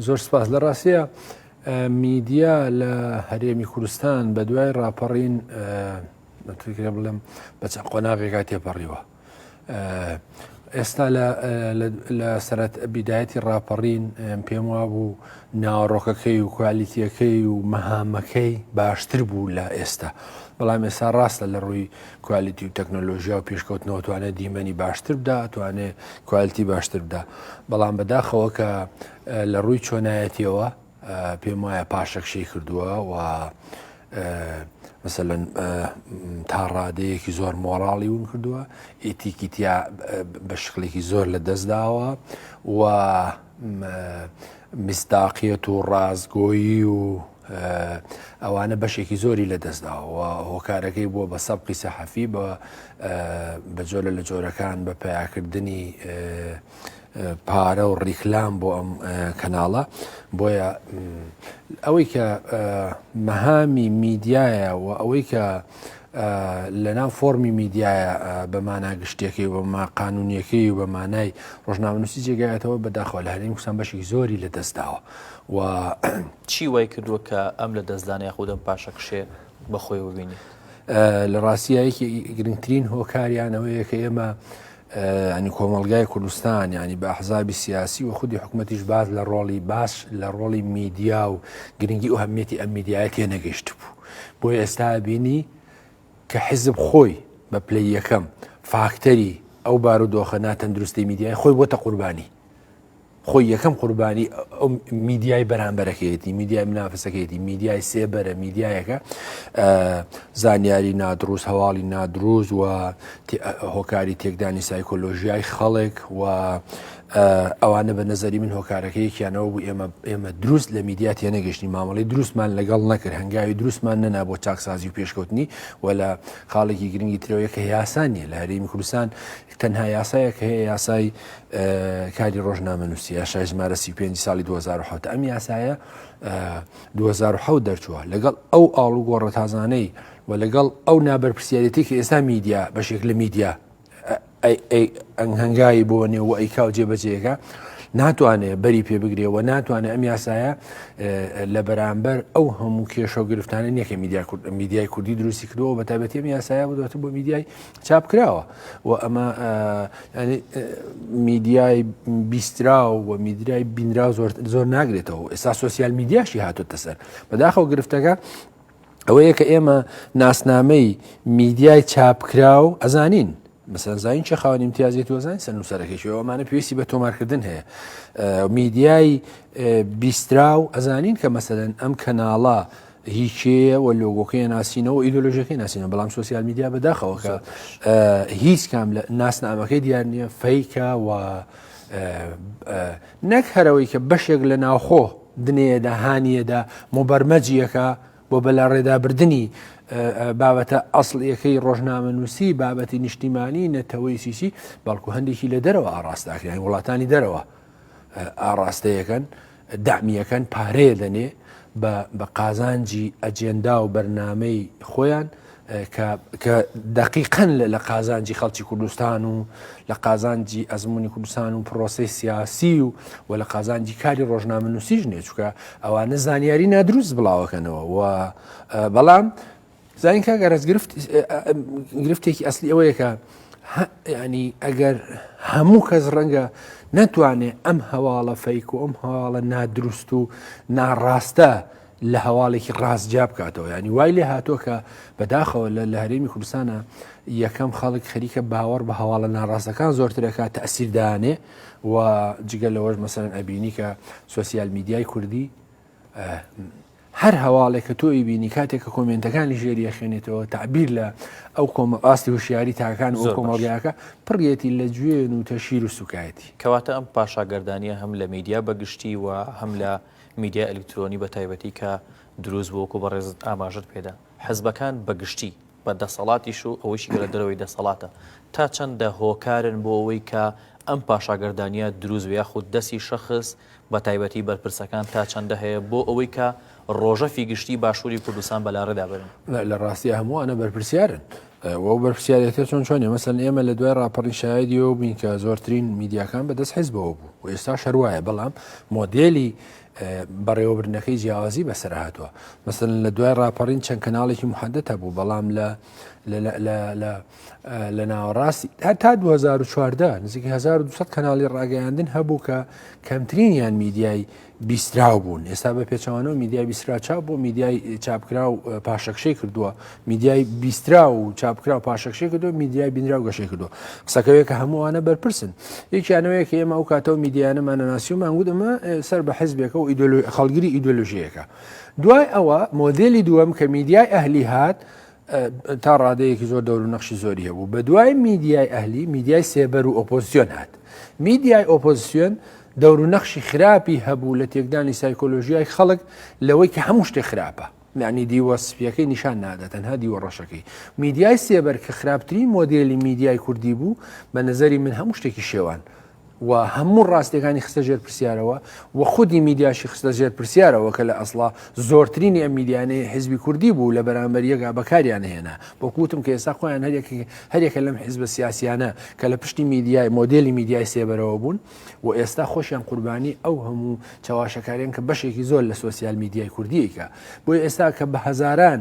زۆر سپاس لە ڕاستەیە میدیا لە هەرێمی کوردستان بە دوای ڕاپەڕین بەترکرێ بڵێم بە چەند قۆناغێکا تێپەڕیوە ئێستا لە سەرەت بیدایەتی ڕاپەڕین پێم وا بوو ناوەڕۆکەکەی و کوالیتیەکەی و مەهامەکەی باشتر بوو لە ئێستا بەڵام ئێستا ڕاستە لە ڕووی کوالیتی و تەکنەلۆژیا و پێشکەوتنەوە توانێت دیمەنی باشتر بدا توانێت کوالیتی باشتر بدا بەڵام بەداخەوە کە لە ڕووی چۆنایەتیەوە پێم وایە پاشەکشەی کردووە و مثلەن تا ڕادەیەکی زۆر مۆراڵی ون کردووە ئیتیکیتیا بە شکلێکی زۆر لە دەستداوە و میسداقیەت و ڕاستگۆیی و ئەوانە بەشێکی زۆری لە دەستداوە و هۆکارەکەی بووە بە سەبقی سەحەفی بە بە جۆرە لە جۆرەکان بە پەیاکردنی پارە و ڕیکلام بۆ ئەم کەناڵە بۆیە ئەوەی کە مەهامی میدیایە و ئەوەی کە لەناو فۆرمی میدیایە بە مانا گشتەکەی و بەما قانونیەکەی و بە مانای ڕژناونوسی جێگایەتەوە بەداخوا لە هەرێمی کوردستان بەشی زۆری لە دەستداوە و چی وای کردووە کە ئەم لە دەستدانە یاخودەم پاشەکشێ بەخۆی ببینی لە ڕاستیایەکی گرنگترین هۆکاریانەوەیە کە ئێمە ئەنی کۆمەلگای کوردستان ینی بە حزابی سیاسی و خودی حکوومەتیش باز لە ڕۆڵی باش لە ڕۆڵی میدیا و گرنگی و هەمیەتی ئەم میدیایە تێنەگەشت بوو. بۆیە ئێستا ئەبینی کە حیزب خۆی بە پلەی یەکەم فاکتەری ئەو بار و دۆخە ناتەندروستی میدیای خۆی بۆتە قوربانی خۆی یەکەم قوربانی ئەو میدیای بەرامبەرەکەیەتی میدیای منافسەکەیەتی میدیای سێبەرە میدیایەکە زانیاری نادروست هەواڵی نادروست و هۆکاری تێکدانی سایکۆلۆژیای خەڵک و ئەوانە بە نەزەری من هۆکارەکە یەکیانەوە بوو ئێمە ئێمە دروست لە میدیا تێنەگەشتنی مامەڵی دروستمان لەگەڵ نەکرد هەنگاوی دروستمان نەنا بۆ چاکسازی و پێشکەوتنی و لە خاڵێکی گرنگی ترەوەیە کە یاسانیە لە هەرێمی کوردستان تەنها یاسایە کە هەیە یاسای کاری ڕۆژنامە نووسی یاشای ژمارە سی پێ ساڵی 2010 ئەم یاسایە 2010 دەرچووە لەگەڵ ئەو ئاڵوگۆڕە تازانەی و لەگەڵ ئەو نابەرپسیارەتی کە ئێستا میدیا بەشێک لە میدیا هەنگاوی بۆ نێ و ئەیکا و جێبەجێەکە ناتوانێت بەری پێ بگرێ و ناتوانێت ئەم یاسایە لە بەرامبەر ئەو هەموو کێشە و گرفتانە نیەکە میدیا کورد میدیای کوردی دروستی کردەوە بە تابەتی ئەم یاسایە بدوێت بۆ میدیای چاپ کراوە و ئەمە میدیای بیسترا و میدرای بینرا زۆر زۆر ناگرێتەوە ئێستا سوسیال میدیاشی هاتۆتە سەر بەداخەوە گرفتەکە ئەوەیە کە ئێمە ناسنامەی میدیای چاپکراو ئەزانین بەسەرزانین چه خاوەنی امتیازی توزان سە نووسەرەکەی ئەومانە پێویستی بە تۆمارکردن هەیە میدیای بیسترا و ئەزانین کە مەسەن ئەم کەناڵە هیچەیە و لۆگۆکەی ناسینەوە ئیدۆلۆژەکەی ناسینە بەڵام سوسیال میدیا بەداخەوەکە هیچ کام لە ناسنامەکەی دیار نییە فەیکە و نەک هەرەوەی کە بەشێک لە ناوخۆ دنێیەدا، هانییەدا، موبەرمەجییەکە بۆ بەلاڕێدابردنی بابەتە ئەسڵییەکەی ڕۆژنامەنووسی، بابەتی نیشتیمانی، نەتەوەی سیسی، بەڵکو هەندێکی لە دەرەوە ئاڕاستەکرێن، وڵاتانی دەرەوە ئاڕاستەیەکەن، دامییەکەن، پارەیە دەنێ بە قازانجی ئەجێندا و بەرنمەی خۆیان، کە دەقیقەن لە قازانجی خەڵکی کوردستان و لە قازانجی ئەزمموی کوردستان و پرۆسی سیاسی و و لە قازانجی کاری ڕۆژنامە نووسیش نێچکە ئەوانە زانیاری نادروست بڵاوەکەنەوە و بەڵام زانین کا گەرەز گرفت گرفتێکی ئەسلی ئەوەیەکە ینی ئەگەر هەموو کەس ڕەنگە نەتوانێت ئەم هەواڵە فەیک و ئەم هەواڵە نادروست و ناڕاستە لە هەواڵێکی ڕاست جیا بکاتەوە ینی وای لێ هاتووە کە بەداخەوە لە لە هەرێمی کوردستانە یەکەم خەڵک خەریکە باوەڕ بە هەواڵە ناڕاستەکان زۆرترەکە تەسیردانێ و جگە لەوەش مەسەن ئەبینی کە سوسیال میدیای کوردی هەر هەواڵێک کە تۆی بینی کاتێک کە کۆمنتەکانی ژێری یەخێنێتەوە تعبیر لە ئەو کۆمە ئاستی هوشیاری تاکان زۆر کۆمەڵگاکە پڕێتی لە گوێن و تەشیر و سوکایەتی کەواتە ئەم پاشاگەردانە هەم لە میدیا بەگشتی و هەم لە میدیای ئەلیکترۆنی بە تایبەتی کە دروست بوو وەکو بەڕێزت ئاماژەت پێدا حزبەکان بە گشتی بە دەسەڵاتیش و ئەوەیشی کە لە دەرەوەی دەسەڵاتە تا چەندە هۆکارن بۆ ئەوەی کە ئەم پاشاگەردانیە دروست بێ یاخود دەستی شەخص بە تایبەتی بەرپرسەکان تا چەندە هەیە بۆ ئەوەی کە ڕۆژەفی گشتی باشووری کوردستان بەلاڕێدا بەرن؟ لە ڕاستیا هەمووانە بەرپرسیارن وە بەرپرسیاریەکە چۆن چۆنی مەسەن ئێمە لە دوای راپەڕی شایدیەوە بووین کە زۆرترین میدیاکان بەدەست حزبەوە بوو و ئێستا شەروایە بەڵام مۆدێلی بەڕێوەبرنەکەی جیاوازی بەسەر هاتووە مەسن لە دوای راپەڕین چەند کەناڵێکی محەدەتە بوو بەڵام لە لە ناوەڕاستی تا 2014 نزیک 1200 کەناڵی ڕاگەیاندن هەبوو کە کەمترینیان میدیای بیستراو بوون ئێستا بە پێچوانەوە میدیای بیسرا چاپ بۆ میدیای چاپکرا و پاشەکشەی کردووە میدیای بیسترا و چاپکرا و پاشەکشی کردو میدیای بینرا و گەشەی کردو قسەکەوێک کە هەمووانە بەرپرسن یەکیانەوەیە کە ئێمە ئەو کاتەوە میدیانەمانە ناسی و مانگود ئەمە سەر بە حزبێکە و خەڵگیری ئیدۆلژیەکە دوای ئەوە مۆدلی دووەم کە میدیای ئەهلی هات تا ڕادەیەکی زۆر دەور و نەخشی زۆری هەبوو بە دوای میدیای ئەهلی میدیای سێبەر و ئۆپۆزیۆن هات میدیای ئۆپۆزیۆن دەور و نەخشی خراپی هەبوو لە تێکدانی سایکۆلۆژیای خەڵک لەوەی کە هەموو شتێ خراپە معنی دیوە سپیەکەی نیشان نادە تەنها دیوە ڕەشەکەی میدیای سێبەر کە خراپترین مۆدیلی میدیای کوردی بوو بە نظری من هەموو شتێکی شێوان و هەموو ڕاستیەکانی خستە ژێر پرسیارەوە و خودی میدیاشی خستە ژێر پرسیارەوە کە لە ئەسڵا زۆرترینی ئەم میدیانەیە حیزبی کوردی بوو لە بەرامبەر یەکا بەکاریان هێنا بۆکوتم کە ئێستا خۆیان هەرێک هەرێکە لەم حیزبە سیاسیانە کە لە پشتی میدیای مۆدلی میدیای سێبەرەوە بوون و ئێستا خۆشیان قوربانی ئەو هەموو چاواشەکاریان کە بەشێکی زۆر لە سوسیال میدیای کوردیەکە بۆی ئێستا کە بە هەزاران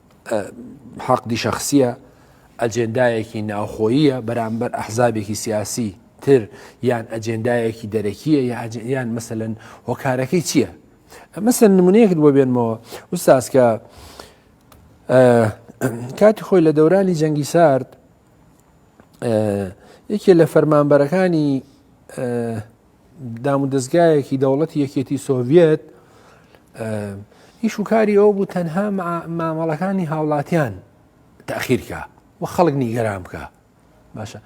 حەقدی شەخسیە ئەجێندایەکی ناوخۆییە بەرامبەر ئەحزابێکی سیاسی تر یان ئەجێندایەکی دەرەکیە یان مەسەن هۆکارەکەی چییە؟ مەسەر نمونەیەکت بۆ بێنمەوە وساسکە کاتی خۆی لە دەورانی جەنگی سارد یەکێ لە فەرمانبەرەکانی دامودەزگایەکی دەوڵەتی یەکێتی سۆڤەت ئیش و کاری ئەو بوو تەنها مامەڵەکانی هاوڵاتیان تاخیرکە و خەڵک نیگەران بکە باشە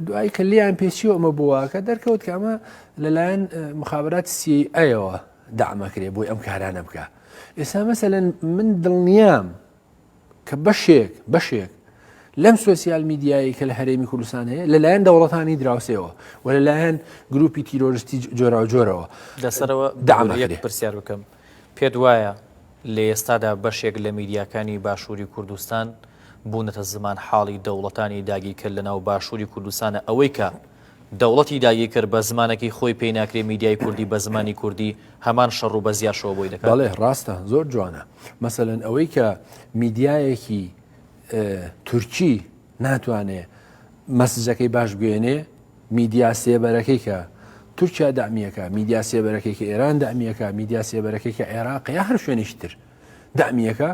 دوایی کە لیان پێچی ئەمە بووە کە دەرکەوت کە ئەمە لەلایەن مخابات سی ئەیەوە دامەکرێ بۆی ئەم کارانە بکە ئێستا مەسەن من دڵنیام کە بەشێک بەشێک لەم سوسیال میدیایی کە لە هەرێمی کوردستان هەیە لەلایەن دەوڵەتانی دراوسێەوە و لەلایەن گروپی تیرۆرستی جۆرا و جۆرەوە لەسەرەوە دامەێت پرسیار بکەم پێت وایە لە ئێستادا بەشێک لە میدیاکانی باشووری کوردستان بوونەتە زمان حاڵی دەوڵەتانی داگیرکە لە ناو باشووری کوردستانە ئەوەی کە دەوڵەتی داگیرکەر بە زمانەکەی خۆی پێی ناکرێ میدیای کوردی بە زمانی کوردی هەمان شەڕ و بەزیاشەوە بۆی دەکات. بەڵێ ڕاستە زۆر جوانە مەسەلەن ئەوەی کە میدیایەکی تورکی ناتوانێ مەسجەکەی باش بگەێنێ میدیا سێبەرەکەی کە تورکیا دامیەکە میدیا سێبەرەکەی کە ئێران دامیەکە میدیا سێبەرەکەی کە عێراق یا هەر شوێنیشتر دامیەکە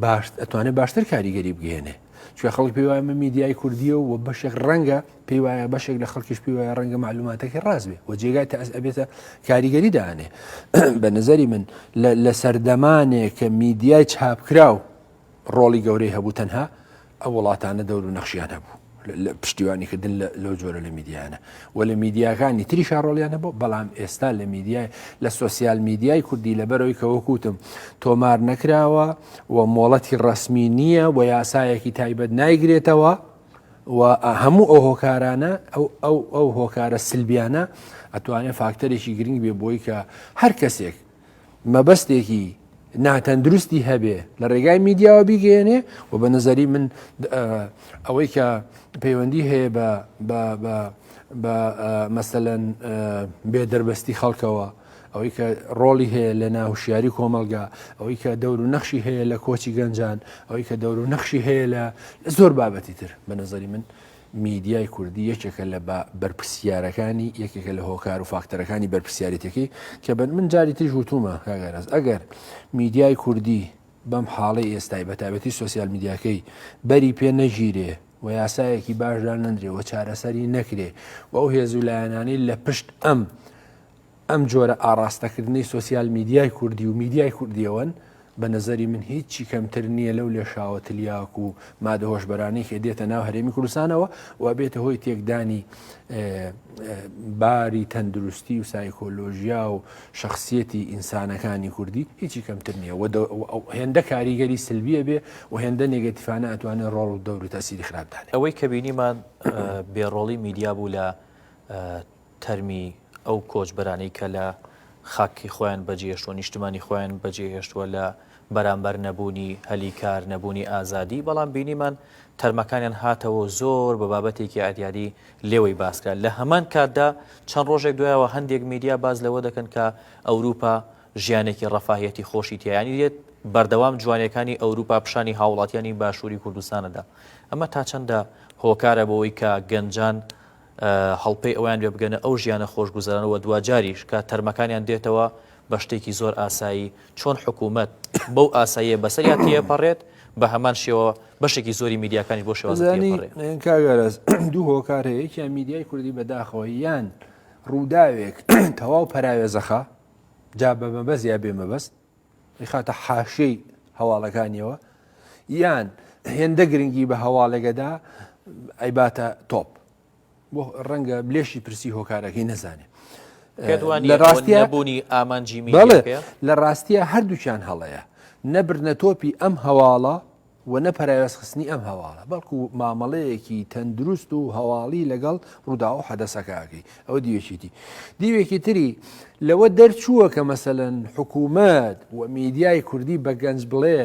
باش ئەتوانێت باشتر کاریگەری بگەێنێ چێ خەڵک پێوایم میدیای کوردیە و بەشێک ڕەنگە پێی وایە بەشێک لە خەڵکیش پێی وایە ڕەنگە معلوماتەکە ڕاست بێ و جێگای تا ئەس ئەبێتە کاریگەری دانێ بە نظری من لە سەردەمانێک کە میدیای چاپکراو ڕۆڵی گەورەی هەبوو تەنها ئەو وڵاتانە دەور و نەخشیان هەبوو لە پشتیوانیکردن لەو جۆرە لە میدیانە و لە میدیاکانی تری شارۆڵیان هەبوو بەڵام ئێستا لە میدیای لە سوسیال میدیای کوردی لەبەرەوەی کەوەکوتم تۆمار نەکراوە و مۆڵەتی ڕسمی نییە و یاسایەکی تایبەت نایگرێتەوە و هەموو ئەو هۆکارانە ئەو ئەو هۆکارە سلبیانە ئەتوانێت فاکتەرێکی گرنگ بێ بۆی کە هەر کەسێک مەبەستێکی ناتەندروستی هەبێ لە ڕێگای میدیاوە بیگەێنێ و بە نظری من ئەوەی کە پەیوەندی هەیە بە بە مەسەەن بێ دەربەستی خەڵکەوە ئەوەی کە ڕۆڵی هەیە لە ناهوشیاری کۆمەلگا ئەوەی کە دەور و نەخشی هەیە لە کۆچی گەنجان ئەوەی کە دەور و نەخشی هەیە لە لە زۆر بابەتی تر بە نظری من میدیای کوردی یەکێکە لە بەرپسیارەکانی یەکێکە لە هۆکار و فاکتەرەکانی بەرپسیارەتەکەی کە بن من جاری تریش وتومە کاگەرز ئەگەر میدیای کوردی بەم حاڵی ئێستای بە تابەتی سوسیال میدیاکەی بەری پێ نەگیرێ و یاسایەکی باشدا نەندرێ و چارەسەری نەکرێ و ئەو هێز و لایەنانی لە پشت ئەم ئەم جۆرە ئاڕاستەکردنەی سۆسیال میدیای کوردی و میدیای کوردیەوەن بە نظری من هیچی کەمتر نییە لەو لێشاوە تلیاک و مادە هۆشببەرانەی کە دێتە ناو هەرێمی کوردستانەوە و بێتە هۆی تێکدانی باری تەندروستی و سایکۆلۆژیا و شخصیەتی ئینسانەکانی کوردی هیچی کەمتر نییە هێندە کاریگەری سلبیە بێ و هێندە نێگەتیفانە ئەتوانێت ڕۆڵ و دەوری تاسیری خراپدان ئەوەی کە بینیمان بێڕۆڵی میدیا بوو لە تەرمی ئەو کۆچبەرانەی کە لە خاکی خۆیان بەجێهێشتووە، نیشتمانی خۆیان بەجێهێشتووە لە بەرامبەر نەبوونی هەلی کار، نەبوونی ئازادی، بەڵام بینیمان تەرمەکانیان هاتەوە و زۆر بە بابەتێکی عەریاری لێوەی باس کرا. لە هەمان کاتدا چەند ڕۆژێک دوایەوە هەندێک میدیا باس لەوە دەکەن کە ئەوروپا ژیانێکی ڕەفاهیەتی خۆشی تیایانی دێت، بەردەوام جوانیەکانی ئەوروپا پیشانی هاوڵاتیانی باشووری کوردستان ئەدا. ئەمە تا چەندە هۆکارە بۆ ئەوەی کە گەنجان، هەڵپەی ئەوەیان بێ بگەنە ئەو ژیانە خۆشگوزەرانە وە دواجاریش کە تەرمەکانیان دێتەوە بە شتێکی زۆر ئاسایی چۆن حکوومەت بەو ئاساییە بەسەریا تێپەڕێت بە هەمان شێوە بەشێکی زۆری میدیاکانیش بۆ شێوازانی کاگەرز دوو هۆکار هەیە یەکیان میدیای کوردی بەداخەوە یان ڕووداوێک تەواو پەراوێزەخە جا بە مەبەست یا بێ مەبەست ئەیخاتە حاشیەی هەواڵەکانیەوە یان هێندە گرنگی بە هەواڵێگەدا ئەیباتە تۆپ بۆ ڕەنگە بلێشی پرسی هۆکارەکەی نەزانێ لە ڕاستیە بوونی ئامانجی بڵێ لە ڕاستیە هەردووچان هەڵەیە نەبرنە تۆپی ئەم هەواڵە و نە پەراوێزخستنی ئەم هەواڵە، بەڵکو مامەڵەیەکی تەندروست و هەواڵی لەگەڵ ڕووداو و حەدەسەکە ئەکەی. ئەوە دیوێکی دی. دیوێکی تری لەوە دەرچووە کە مەسەلەن حکوومەت و میدیای کوردی بە گەنج بڵێ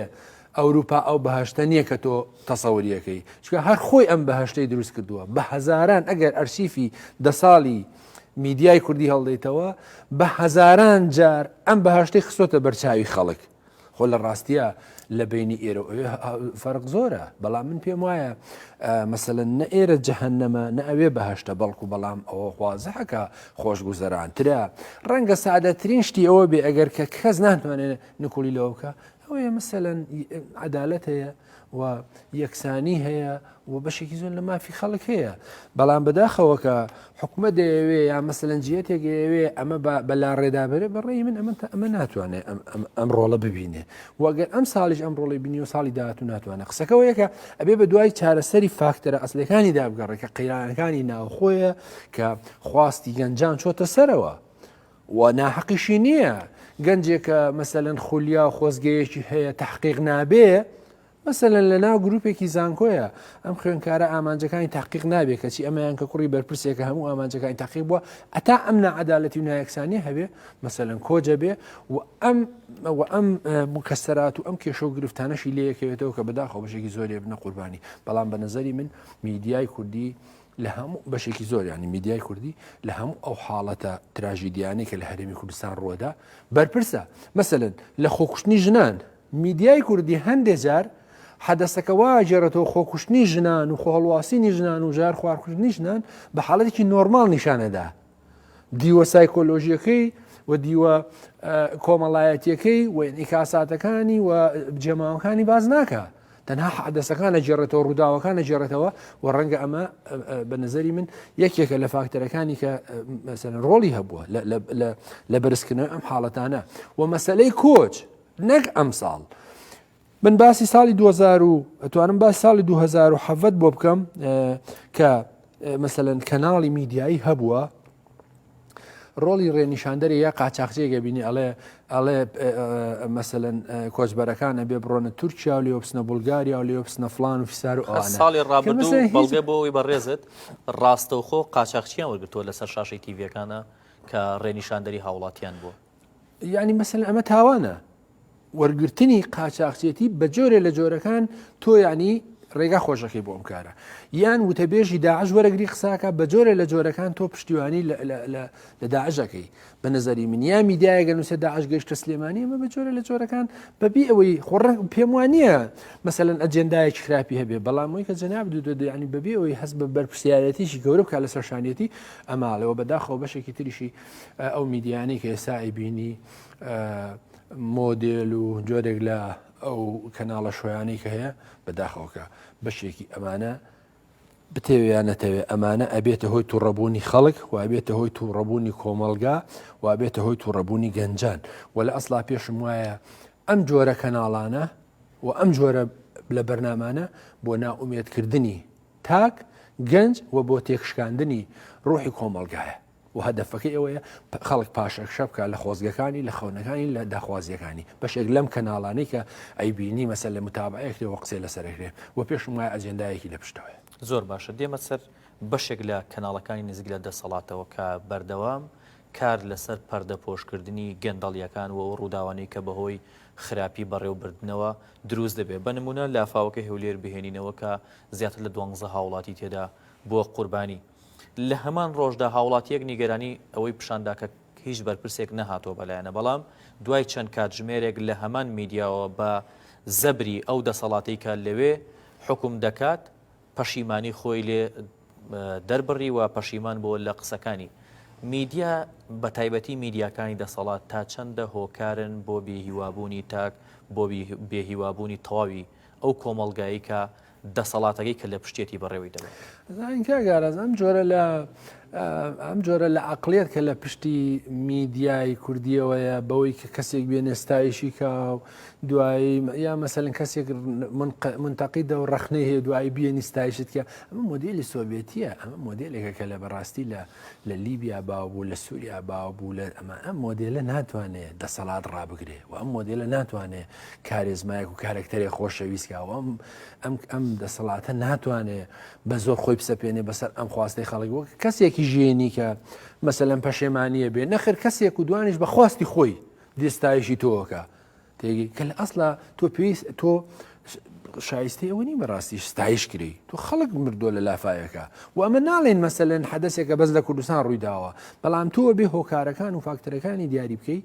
ئەوروپا ئەو بەهەشتە نییە کە تۆ تەسەوری ئەکەی، چونکە هەر خۆی ئەم بەهەشتەی دروست کردووە. بە هەزاران ئەگەر ئەرشیفی دە ساڵی میدیای کوردی هەڵدەیتەوە، بە هەزاران جار ئەم بەهەشتەی خستۆتە بەرچاوی خەڵک. خۆ لە ڕاستیە لە بینی ئێرە فەرق زۆرە بەڵام من پێم وایە مەسەن نە ئێرە جەهنەمە نە ئەوێ بەهشتە بەڵکو بەڵام ئەوە خوازحەکە خۆشگوزەرانترە ڕەنگە سعادەترین شتی ئەوە بێ ئەگەر کە کەس ناتوانێت نکوڵی لەوکە ئەوەیە مەسەەن عدالەت هەیە و یەکسانی هەیە و بەشێکی زۆر لە مافی خەڵک هەیە بەڵام بەداخەوە کە حکومە دەیەوێ یا مەسەلەنجیەتێکەوێ ئەمە بەلا ڕێدابێ بەڕێی من ئەمە تا ئەمە ناتوانێت ئەم ڕۆڵە ببینێ وەگەر ئەم ساڵیش ئەم ڕۆڵی بینی و ساڵی داات و ناتوانێت قسەکەەوە یەکە ئەبێ بە دوای چارەسەری فاکتەرە ئەسلەکانی دابگەڕێکە قەیرانەکانی ناوخۆیە کە خواستی گەنجان چۆتە سەرەوە و ناحەقیشی نییە گەنجێکە مەسەلەن خولیا و خۆزگەیەکی هەیە تحقیق نابێ مەسەلەن لە ناو گروپێکی زانکۆیە ئەم خوێنکارە ئامانجەکانی تحقیق نابێ کەچی ئەمەیان کە کوڕی بەرپرسێکە هەموو ئامانجەکانی تاقیق بووە ئەتا ئەم نەعادالەتی و نایەکسانی هەبێ مەسەلەن کۆجە بێ و ئەم و ئەم مکەسەرات و ئەم کێشە و گرفتانەشی لەیەکەوێتەوە کە بەداخەوە بژێکی زۆرێ بنە قوربانی بەڵام بە نظری من میدیای کوردی لە هەموو بەشێکی زۆریانی میدیای کوردی لە هەموو ئەو حاڵەتە تراژیدیانەی کە لە هەرێمی کوردستان ڕووەدا بەرپرسە مەسەن لە خۆکوشتنی ژنان میدیای کوردی هەندێ جار حەدەسەکە وا گێڕێتەوە خۆکوشتنی ژنان و خۆهڵواسینی ژنان و ژار خوارکوشتنی ژنان بە حاڵەتێکی نۆرمال نیشانەدا دیوە سایکۆلۆژیەکەی و دیوە کۆمەڵایەتیەکەی و ئینیکاساتەکانی و جێماوەکانی باز ناکە تەنها حدەسەکانە جێڕێتەوە ڕووداوەکانە جێڕێتەوە و ڕەنگە ئەمە بە نظری من یەکێکە لە فاکتەرەکانی کە مەسەن ڕۆڵی هەبووە لە بەرزکردنەوە ئەم حاڵەتانە و مەسلەی کۆچ نەک ئەمساڵ من باسی ساڵی دوهەزار و ئەتوانم باسی ساڵی دوهەزار و حەڤەت بۆ بکەم کە مەسەەن کەناڵی میدیایی هەبووە ڕۆڵی ڕێنیشاندەری یا قاچاخجێگە بینی ئەڵێ ئەڵێ مەسەن کۆچبەرەکانە بێ بڕۆنە تورکیا و لێوپسنە بولگاریا و لێوپسنە فلان و فیسار و ساڵی ڕابردوو بەڵگە بۆەوەی بەڕێزت ڕاستەوخۆ قاچاخچیان وەرگتووە لەسەر شاشەی تیڤەکانە کە ڕێنیشاندەری هاوڵاتیان بوو یعنی مەسن ئەمە تاوانە وەرگرتنی قاچاقچێتی بە جۆرێ لە جۆرەکان تۆ ینی ڕێگا خۆشەکەی بۆ ئەم کارە یان وتەبێژی داعش وەرەگری قساکە بە جۆرە لە جۆرەکان تۆ پشتیوانی لە داعشەکەی بە نظری من یا میدایەگە نووسە داعش گەشتە سلێمانی ئەمە بە جۆرە لە جۆرەکان بەبی ئەوەی خۆڕن پێم وانە مثلەن ئەجندایەک خراپی هەبێ بەڵام ئەوی کە جناب دو دەدویانی بەبی ئەوەی هەست بە بەرپسیارەتیشی گەورە بکە لە سەرشانەتی ئەماڵەوە بەداخەوە بەشێکی تریشی ئەو میدیانەی کە ئێستا ئەیبینی مۆدێل و جۆرێک لە ئەو کەناڵە شویانەی کە هەیە بەداخەوەکە بەشێکی ئەمانە بتەوێیان نەتەوێ ئەمانە ئەبێتە هۆی توڕەبوونی خەڵک وابێتە هۆی توڕەبوونی کۆمەلگا وابێتە هۆی توڕەبوونی گەنجان و لە ئەسلا پێشم وایە ئەم جۆرە کەناڵانە و ئەم جۆرە لە بەرنمانە بۆ ناومێدکردنی تاک گەنج و بۆ تێکشکاندنی ڕوحی کۆمەلگایە و هەدەفەکەی ئەوەیە خەڵک پاشەکشە بکە لە خۆزگەکانی لە خەونەکانی لە داخوازیەکانی بەشێک لەم کەناڵانی کە ئەیبینی مەسەر لە متابعەیەکرێ و قسەی لەسەرەکرێ و پێشم وایە ئەجێندایەکی لە پشتەوەیە. زۆر باشە دێمە سەر بەشێک لە کەناڵەکانی نزیک لە دەسەڵاتەوە کە بەردەوام کار لەسەر پەردەپۆشکردنی گەندەڵیەکان و ئەو ڕووداوانەی کە بەهۆی خراپی بەڕێوبردنەوە دروست دەبێ بە نموونە لافاوەکەی هەولێر بهێنینەوە کە زیاتر لە دوانزە هاوڵاتی تێدا بووە قوربانی لە هەمان ڕۆژدا هاوڵاتیەک نیگەرانی ئەوەی پشاندا کە هیچ بەرپرسێک نەهاتوە بەلایەنە بەڵام دوای چەند کاتژمێرێک لە هەمان میدیاوە بە زەبری ئەو دەسەڵاتی کە لەوێ حکوم دەکات پەشیمانی خۆی لێ دەربڕی و پەشیمان بۆ لە قسەکانی میدیا بە تایبەتی میدیاکانی دەسەڵات تا چەندە هۆکارن بۆ بێهیوابوونی تاک بۆ بێهیوابوونی تەواوی ئەو کۆمەڵگایی کە دەسەڵاتەکەی کە لە پشتێتی بەڕێوەی دەبەن. زانین کاک ئاراس ئەم جۆرە لە ئەم جۆرە لە عقلێت کە لە پشتی میدیایی کوردیەوەیە بەوەی کە کەسێک بێنێ ستایشی کا و دوایی یا مەسەن کەسێک منتەقیدە و ڕخنەی هەیە دوایی بێنی ستایشت کە ئەمە مۆدیلی سۆڤێتیە ئەمە مۆدیلێکە کە لە بەڕاستی لە لە لیبیا باوبوو لە سووریا باوبوو لە ئەمە ئەم مۆدیلە ناتوانێت دەسەڵات ڕابگرێ و ئەم مۆدیلە ناتوانێت کارێزمایەک و کارەکتەرێ خۆشەویستکەوە ئەم ئەم ئەم دەسەڵاتە ناتوانێ بە زۆر خۆی بسەپێنێ بەسەر ئەم خواستی خەڵک وەک کەسێکی ژێنی کە مەسەلەن پەشێمانە بێ نەخر کەسێک و دوانش بە خواستی خۆی دێستایشی تۆکە تێگی کە لە ئەسلا تۆ پێویست تۆ شایستی ئەوە نی بەڕاستی ستایش کری تو خەڵک مردووە لە لافاەکە و ئەمە ناڵێن مەسەلەن حەدەسێکە بەس لە کوردستان ڕوویداوە بەڵام تۆ بێ هۆکارەکان و فاکتەرەکانی دیاری بکەیت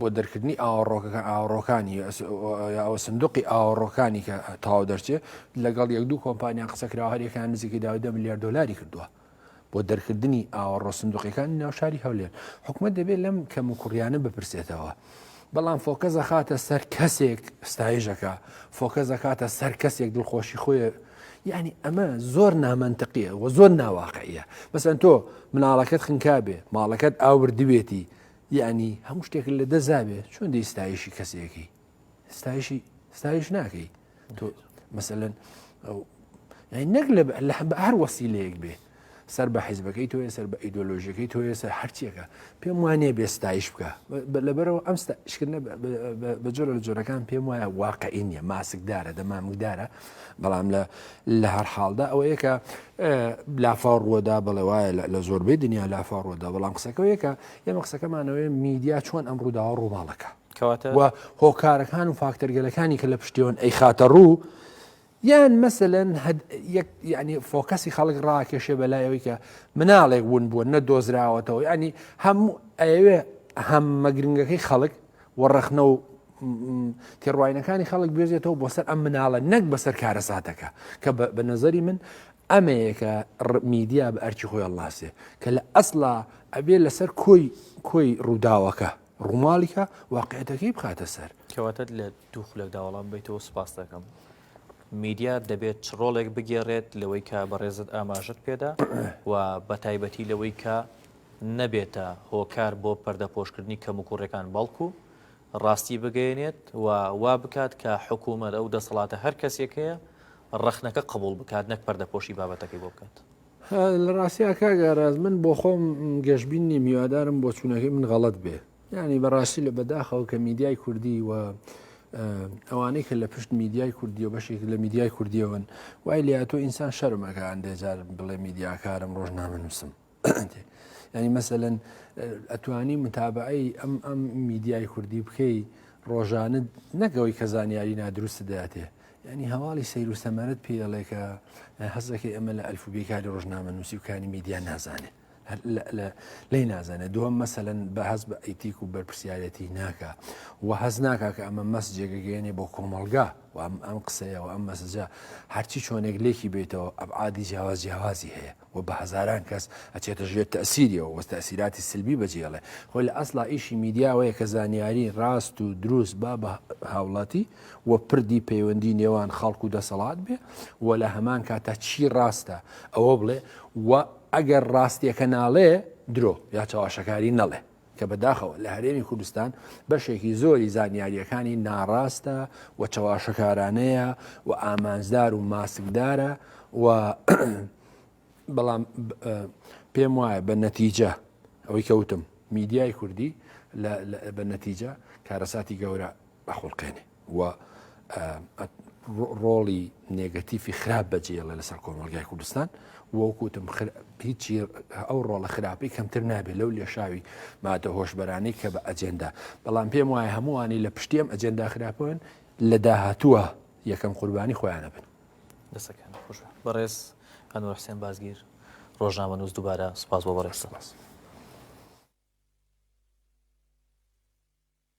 بۆ دەرکردنی ئاوەڕۆکەکە ئاوەڕۆکانی یاوە سندوقی ئاوەڕۆکانی کە تاو دەرچێ لەگەڵ یەک دوو کۆمپانیان قسەکرا هەرێکان نزیکی داودە ملیار دلاری کردووە بۆ دەرکردنی ئاوەڕۆ سندوقەکانی ناوشاری هەولێر حکومت دەبێت لەم کەم و کوڕیانە بپرسێتەوە. بەڵام فۆکە زەخاتە سەر کەسێک ستایژەکە فۆکە زەکاتە سەر کەسێک دڵخۆشی خۆی یعنی ئەمە زۆر نامەنتەقیە و زۆر ناواقعە بەسەن تۆ مناڵەکەت خنکابێ ماڵەکەت ئاوردوێتی یەعنی هەموو شتێکت لە دەست دابێ چۆن دەی ستایشی کەسێکی ستایشی ستایش ناکەی تۆ مەسەن نەک لە هەر وەسی لەیەک بێ سەر بە حیزبەکەی تۆ سەر بە ئیدۆلۆژیەکەی تۆ سەر هەرچیەکە پێم وانێ بێ ستایش بکە لەبەرەوە ئەم شکردە بە جۆرە لە جۆرەکان پێم وایە واقعی نیە ماسکدارە دەمامکدارە بەڵام لە لە هەر حاڵدا ئەوە یەکە لافاڕوەدا بەڵێ وایە لە زۆربەی دنیا لافاڕوەدا بەڵام قسەکە یەکە ئێمە قسەکەمانەوەی میدیا چۆن ئەم ڕووداوە ڕووماڵەکە کەواتە و هۆکارەکان و فاکتەرگەلەکانی کە لە پشتیوان ئەی خاتە ڕوو یان مەسەن ینی فۆکەسی خەڵک ڕاکێشێ بەلایەوەی کە مناڵێک بوون بووە نە دۆزراوەتەوە ینی هەموو ئەوێ هەم مەگرنگەکەی خەڵک و ڕەخنە و تێڕواینەکانی خەڵک بێزێتەوە بۆ سەر ئەم مناڵە نەک بەسەر کارەساتەکە کە بە نەزەری من ئەمەیە کە میدیا بە ئەرکی خۆی هەڵناسێ کە لە ئەسڵا ئەبێ لەسەر کۆی کۆی ڕووداوەکە ڕووماڵیکە واقعەتەکەی بخاتە سەر کەواتە لە دوو خولەک داوەڵام بیتەوە سپاس دەکەم میدیا دەبێت چ ڕۆڵێک بگێڕێت لەوەی کە بەڕێزت ئاماژت پێدا و بە تایبەتی لەوەی کە نەبێتە هۆکار بۆ پەردەپۆشکردنی کەم و کوڕەکان بەڵکو ڕاستی بگەیەنێت و وا بکات کە حکوومەت، ئەو دەسەڵاتە هەر کەسێک هەیە ڕەخنەکە قبووڵ بکات نەک پەردەپۆشی بابەتەکەی بۆ بکات. لە ڕاستیا کاک ئاراس من بۆ خۆم گەشبین نیم، هیوادارم بۆچوونەکەی من غەڵەت بێ. یانی بە ڕاستی لە بەداخەوە کە میدیای کوردی و ئەوانەی کە لە پشت میدیای کوردی و بەشێک لە میدیای کوردیەوەن وای لێ ئەتوو ئینسان شەرم ئەکا ئەندێ جار بڵێ میدیاکارم ڕۆژنامەنووسم. ینی مەسەەن ئەتوانی متابعی ئەم ئەم میدیای کوردی بکەی ڕۆژانە نەگەوەی کە زانیاری نادروست دەاتێ ینی هەواڵی سیر و سەمەرت پێڵێکە حەزەکەی ئەمە لە ئەلف و بێکاری ڕۆژنامە نووسی و کانی میدیا نازانێت لی نازانێت دووەم مەسەن بە هەز بە ئەیتیک و بەرپسیارەتی ناکە و هەز ناکە کە ئەمە مەس جێگەگەێنێ بۆ کۆمەلگا و ئەم قسەیەوە ئەم مەسجە هەرچی چۆنێک لێکی بێتەوە ئەبعادی جیاواز جیاوازی هەیە و بە هەزاران کەس ئەچێتە ژێر تەسیریەوە وە تەسیراتی سلبی بەجێڵێ خۆی لە ئەسلا ئیشی میدیاوەیە کە زانیاری ڕاست و دروست با بە هاوڵاتی و پردی پەیوەندی نێوان خەڵک و دەسەڵات بێ و لە هەمان کاتە چی ڕاستە ئەوە بڵێ و ئەگەر ڕاستیەکە ناڵێ درۆ یا چاواشەکاری نەڵێ کە بەداخەوە لە هەرێمی کوردستان بەشێکی زۆری زانیارییەکانی ناڕاستە و چەواشەکارانەیە و ئامانجدار و ماسکدارە و بەڵام پێم وایە بە نەتیجە ئەوەی کەوتم میدیای کوردی بە نەتیجە کارەساتی گەورە بەخڵقێنێ و ڕۆڵی نێگەتیفی خراپ بەجێڵێ لەسەر کۆمەلگای کوردستان وەکوتم هیچی ئەو ڕۆڵە خراپی کەمتر نابێت لەو لێشاوی مادە هۆشببەرانەی کە بە ئەجێندا بەڵام پێم وایە هەمووانی لە پشتیم ئەجێندا خراپن لە داهاتووە یەکەم قوربانی خۆیانە بن دەسەکان خۆش بەڕێز هەنوو حسێن بازگیر ڕۆژنامە نووس دووبارە سپاس بۆ بەڕێز سپاس.